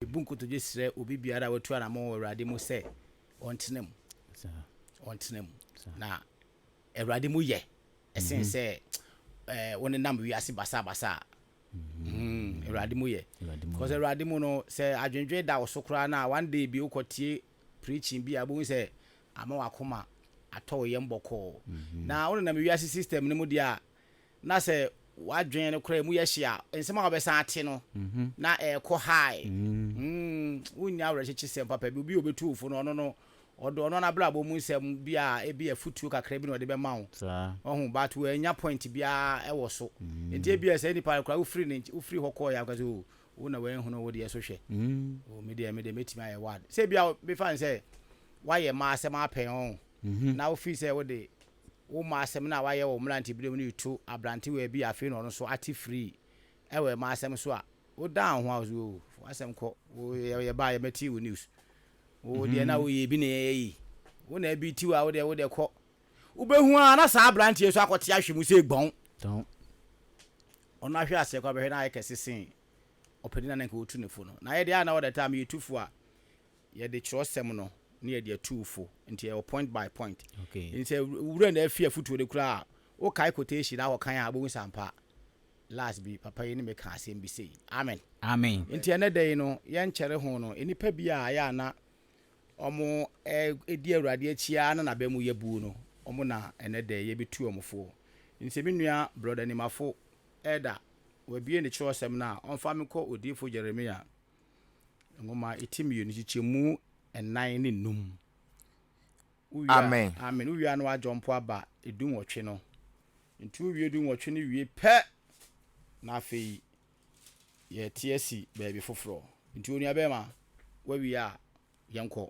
Yebu nkotodwe srɛ obi biara a watu anammɔn wɔ Awurade mu sɛ ɔntena mu. Ɔntena mu. Na Awurade mu yɛ ɛsen mhm. sɛ ɛɛ wonenam wiase basabasa a. Mhm. Hmm, Awurade mu yɛ. Because Awurade mu no sɛ adwendwen da wo so koraa na one day bi wokɔtie preaching bi a wobɛhu sɛ ama wakoma atɔ wo yam bɔkɔɔ. Mhm. Na wonenam wiase system no mu deɛ a na sɛ w'adwene no koraa mu yɛ hye a, nsɛm a wobɛsan ate no, na ɛrekɔ high. Wonnya awerɛkyekyesɛm papa bi. Obi a obetu wo fo no, ɔno no, ɔde ɔno n'abrabɔ mu nsɛm bi a ebia afotuo kakra bi na ɔde bɛma wo. Wahu? But wannya point biara wɔ so. Enti ebia saa nipa no koraa, wofiri ne nkye, wofiri hɔ kɔeɛ a, woka sɛ, Oh, wo na wanhunu wo deɛ so hwɛ. Oh, me deɛ, me deɛ mɛtumi ayɛ wad. Sɛ ebia, mefa no sɛ, woayɛ mma asɛm apɛn wɔn, na wofiri sɛ wode Woma asɛm no a wayɛ wɔ wo mmeranteberɛ mu no yi to aberantewaa bi a afei na ɔno nso ate firii wɔ ɛma asɛm so a, wodan wo ho a wo so oo, fa w'asɛm kɔ, wo, yɛ, yɛbaeɛ, mɛtee wo news. Wo deɛ na woyɛ bi na yɛyɛ yi. Wo na ɛbi tiw a, wo deɛ, wo deɛ kɔ. Wobɛhu ara na saa aberanteɛ yi nso akɔte ahwe mu sɛ gbɔn. Tɔn. Ɔno ahwe aseɛ koraa bɛhwɛ na ayɛ kɛse sen ɔpanin a na anka wɔtu no fo no. Na yɛn deɛ a na all the time yɛtu fo a, Yɛde kyerɛwsɛm no na yɛde atu wo fo, nti ɛwɔ point by point. Nti sɛ wura no afi afutuo no koraa a, wokae quotation na akɔkan a, wobɛhu sɛ ampa last bi papa yi ne me kaa asɛm bi sei. Amen. Amen. Nti ɛnnɛ da yi no, yɛnkyɛre ho no, nnipa bi a ɛyɛ a na wɔdi Awurade akyi ara na n'aba mu yɛ buo no, wɔn na ɛnnɛ da yi yɛbɛtu wɔn fo. Nti sɛ me nua Brɔda Nimafo, Elder, wabue ne kyerɛwsɛm no a, ɔmfa me nkɔ Odiyifoɔ Jeremia Nwoma ti mmienu, nkyekyɛmu nnan ne nnum. Amen. Amen. Wowia no adwo mpo aba edu nwɔtwe no. Nti wowie du nwɔtwe no wie pɛ na afei yɛte asi baabi foforɔ. Nti onuabɛrima, woawie a yɛnkɔ.